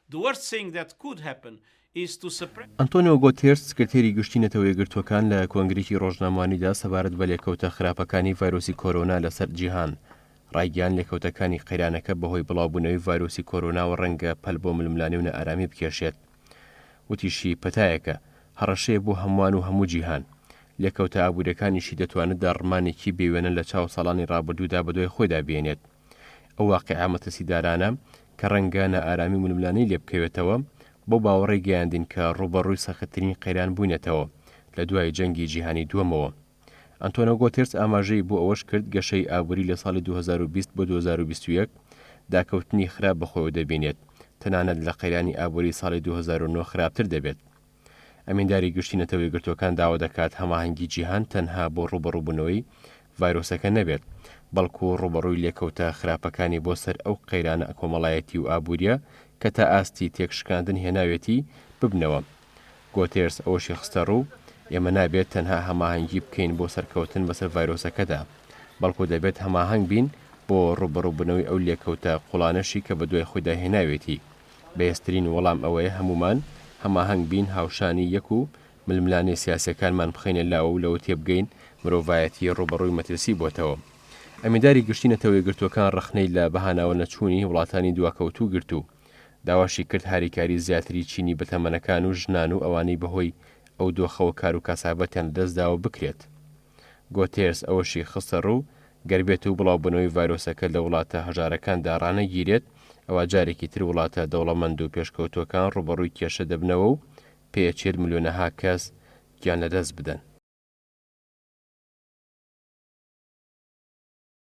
The worst thing that could happen is to suppress. ئەنتۆنیۆ گۆتێرس، سکرتێری گشتی نەتەوە یەکگرتووەکان لە کۆنگرەیەکی ڕۆژنامەوانیدا سەبارەت بە لێکەوتە خراپەکانی ڤایرۆسی کۆرۆنا لەسەر جیهان ڕایگەیاند لێکەوتەکانی قەیرانەکە بەهۆی بڵاوبوونەوەی ڤایرۆسی کۆرۆناوە ڕەنگە پەل بۆ ململانێ و نائارامی بکێشێت وتیشی پەتایەکە هەڕەشەیە بۆ هەمووان و هەموو جیهان لێکەوتە ئابووریەکانیشی دەتوانێت داڕمانێکی بێوێنە لە چاو ساڵانی ڕابردوودا بەدوای خۆیدا بێنێت. ئەو واقیعە مەترسیدارانە کە ڕەنگە نائارامی و ململانێی لێ بکەوێتەوە، بەو باوەڕەی گەیاندین کە ڕووبەڕووی سەختترین قەیران بووینەتەوە لە دوای جەنگی جیهانی دووەمەوە. ئەنتۆنۆ گۆتێرس ئاماژەی بۆ ئەوەش کرد، گەشەی ئابووری لە ساڵی دوو هەزار و بیست بۆ دوو هەزار و بیست و یەک داکەوتنی خراپ بەخۆیەوە دەبینێت، تەنانەت لە قەیرانی ئابووری ساڵی دوو هەزار و نۆ خراپتر دەبێت. ئەمینداری گشتی نەتەوە یەکگرتووەکان داوا دەکات هەماهەنگی جیهان تەنها بۆ ڕووبەڕووبوونەوەی ڤایرۆسەکە نەبێت، بەڵکو ڕووبەڕووی لێکەوتە خراپەکانی بۆ سەر ئەو قەیرانە کۆمەڵایەتی و ئابوورییە کە تا ئاستی تێکشکاندن هێناوێتی، ببنەوە. گۆتێرس ئەوەشی خستەڕوو، ئێمە نابێت تەنها هەماهەنگی بکەین بۆ سەرکەوتن بەسەر ڤایرۆسەکەدا، بەڵکو دەبێت هەماهەنگ بین بۆ ڕووبەڕووبوونەوەی ئەو لێکەوتە قوڵانەشی کە بەدوای خۆیدا هێناوێتی. بەهێزترین وەڵام ئەوەیە هەموومان هەماهەنگ بین، هاوشانی یەک و ململانێ سیاسیەکانمان بخەینە لاوە و لەوە تێبگەین مرۆڤایەتی ڕووبەڕووی مەترسی بۆتەوە. ئەمینداری گشتی نەتەوە یەکگرتووەکان ڕەخنەی لە بەهاناوە نەچوونی وڵاتانی دواکەوتوو گرت و داواشی کرد هاریکاری زیاتری چینی بەتەمەنەکان و ژنان و ئەوانەی بەهۆی ئەو دۆخەوە کار و کاسابەتیان لەدەستداوە بکرێت. گۆتێرس ئەوەشی خستەڕوو، گەر بێتو بڵاوبونەوەی ڤایرۆسەکە لە وڵاتە هەژارەکاندا ڕانەگیرێت، ئەوا جارێکی تر وڵاتە دەوڵەمەندو پێشکەوتوەکان ڕوبەڕوی کێشە دەبنەوەو پێیە چل ملیۆنەها کەس گیانلەدەست بدەن.